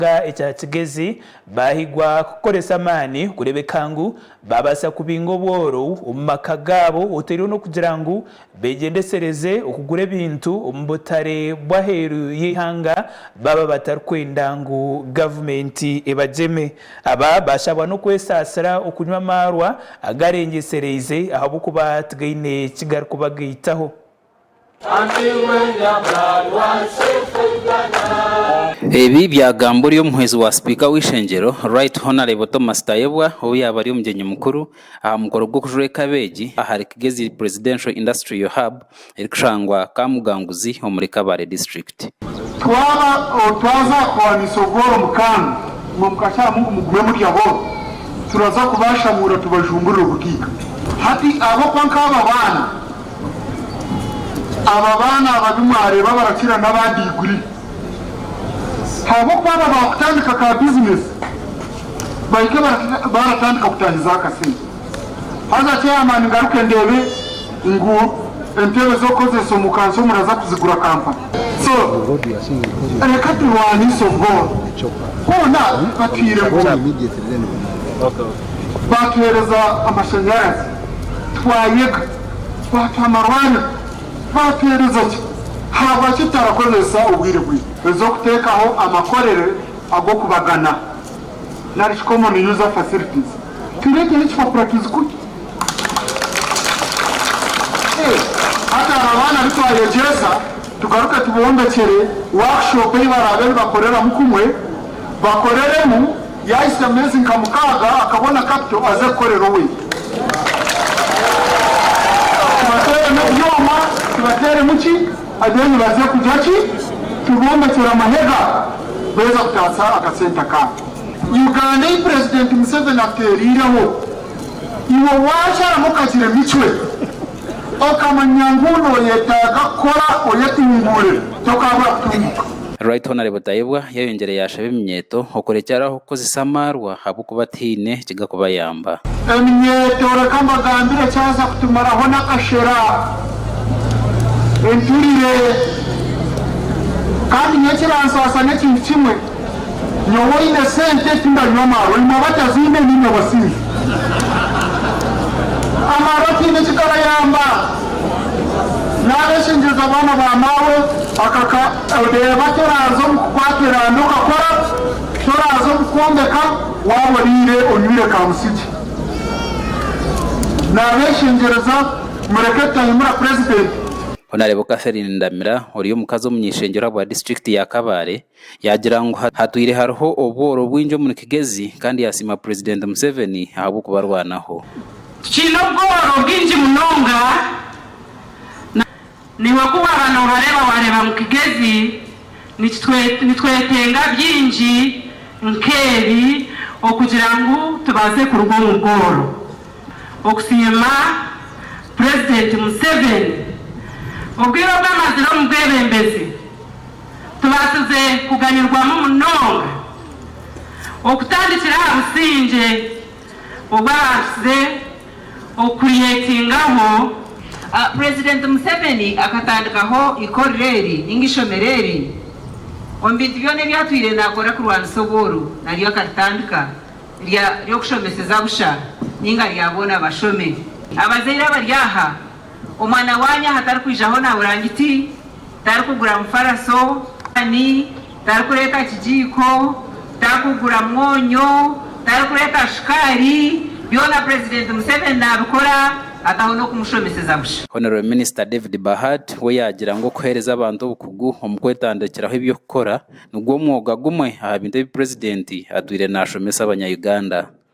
kyanga ekya kigezi, baahigwa kukoresa amaani kureebeka ngu baabaasa kubinga obworo omu maka gaabo oteereho n'okugira ngu beegyendesereze okugura ebintu omu butare bw'aheeru y'eihanga baaba batarikwenda ngu gavumenti ebagyeme. Aba baashabwa n'okwesaasira okunywa amaarwa agaarengyesereize ahabw'okuba tigaine ki garikubagaitaho. Ebi byagambwa ori omuhwezi wa sipiika w'eishengyero Right Honarebo Thomas Tayebwa obu yaabari omugyenyi mukuru aha mukoro gw'okujura ekabeegi ahari Kigezi Presidential Industrial Hub erikushangwa Kamuganguzi omuri Kabale District. Twaba otwaza kuhwanisa obworo mukaaga bumwe mukashaamu ngu mugume murya bworo, turaza kubashamuura tubajumburire obukiika. Hati ahabw'okuba nk'abo abaana, Abo abaana ababi mwareeba abarakira n'aba diguri ahabw'okuba aba baakutandika ka bizinesi bahike baaratandika kutaahiza akasente. Haza chairman ngaruke ndeebe ngu entebe z'okukozeesa omu kanso muraza kuzigura Kampala. So reka turwaniise obworo. Hoona batwire enguuto. Baatuheereza amashanyarazi. Twayega, twatwa amarwariro, twateereza gye, haabwaki tutarakozesa obwire bwaitu? Toija kuteekaho amakorero ag'okubagana nari shi common user facilities. Tureeteho ekipapura tuzikugye. Hati hariho abaana abu twayegyesa. Tugaruke tubombekyere workshop ei baraabe nibakoreramu kumwe, bakoreremu, yaahitsya mu meezi nka mukaaga akabona kapito aze kukorera owaitu. Tubateeremu ebyoma, tubateeremu ki, then baze kugira ki? Tubombekyere amahega beeza kutaasa akasente akaabo. Uganda ei Purezidenti Museveni atuteereireho, iwe waakyaramu okagira emicwe. Okamanya ngu nooyetaaga kukora oyetunguure, tokaabura kutunguka. Right Honourable Tayebwa yayongyire yaashaba eminyeeto okurekyeraho kukozesa amaarwa ahabw'okuba tihaine ekigakubayamba. Eminyeeto reka mbagambire ekyaza kutumaraho n'akashera, enturire, kandi nyowe ekiransaasa n'ekintu kimwe. Nyowe oine sente tindanywa amaarwa nimwe abataziine niimwe abasinzi amaarwa tihaine eki garayaamba naaba eshengyereza abaana ba maawe akaka odeeba toraaza omu kukwaata eraanda okakora toraaza omu kwombeka waaba oriire onywire ka musigye naaba eshengyereza mureke tutahemura purezidenti. Honourable Catherine Ndamira ori omukazi omunyaishengyerwa bwa disiturikiti ya Kabale Yaagira ngu hatwire hariho obworo bwingi omuri Kigezi kandi yaasiima Purezidenti Museveni ahabw'okubarwanaho. Tukiine obworo bwingi munonga na naiwe ku waaba noobareeba waareeba ngu Kigezi nitwetenga bingi nk'ebi okugira ngu tubaase kuruga omu bworo. Okusiima Purezidenti Museveni obwire obu amazire omu bwebembezi. Tubaasize kuganyirwamu munonga okutandikira aha busingye obu abaasize okukuryetingaho. Purezidenti Museveni akatandikaho ikorero eri ninga ishomero eri omu bintu byona ebi atwire naakora kurwanisa obworu naryo akaritandika ry'okushomeseza busha ninga rya boona bashome. Abazaire abari aha Omwana waanyu aha tarikwijaho na burangiti, tarikugura mufaraso, taani, tarikureeta kigiiko, tarikugura mwonyo, tarikureeta shukaari, byona Purezidenti Museveni naabikora ataho n'okumushomeseza busha. Honourable Minister David Bahad we yaagira ngu okuheereza abantu obukugu omu kwetandikiraho eby'okukora nigwo mwooga gumwe aha bintu ebi Purezidenti atwire naashomesa abanya-Uganda.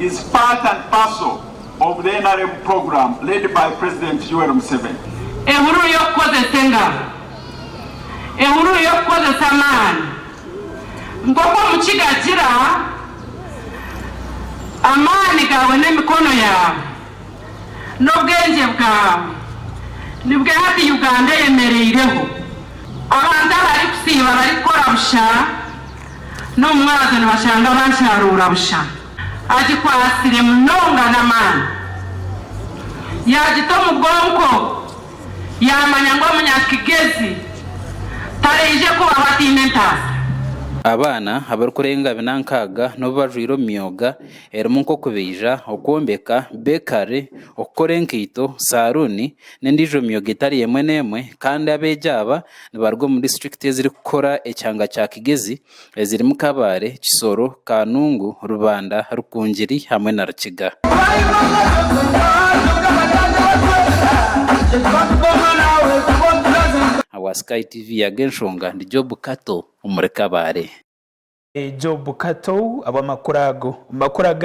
is part and parcel of the nrm programme led by President Yoweri Museveni. Ehururu y'okukozesa engaro, ehururu y'okukozesa amaani, nk'oku Omukiga agira, Amaani gaawe n'emikono yaawe, n'obwengye bwaawe nibwe hati Uganda eyemereireho. Abantu abarikusiiba barikukora busha. N'omu mwabazyo nibashanga bansharuura busha. Agikwatsire munonga n'amaani. Yaagita omu bwonko, yaamanya ngu omunyakigezi taraije kubaho ataine entaasa. Abaana abarikurenga binankaaga n'obu bajwaire omu myooga erimu nk'okubaija, okwombeka, beekari, okukora enkaito, saaruuni, n'endiijo myooga etari emwe n'emwe, kandi abeegi aba Nibaruga omu disiturikiti ezirikukora ekyanga kya Kigezi ezirimu Kabale, Kisoro, Kanungu, Rubanda, Rukungiri hamwe na Rukiga. Owa Sky TV ya Genshonga ndi Job Kato omuri Kabale. Job Kato, Abu amakuru ago? Amakuru aga.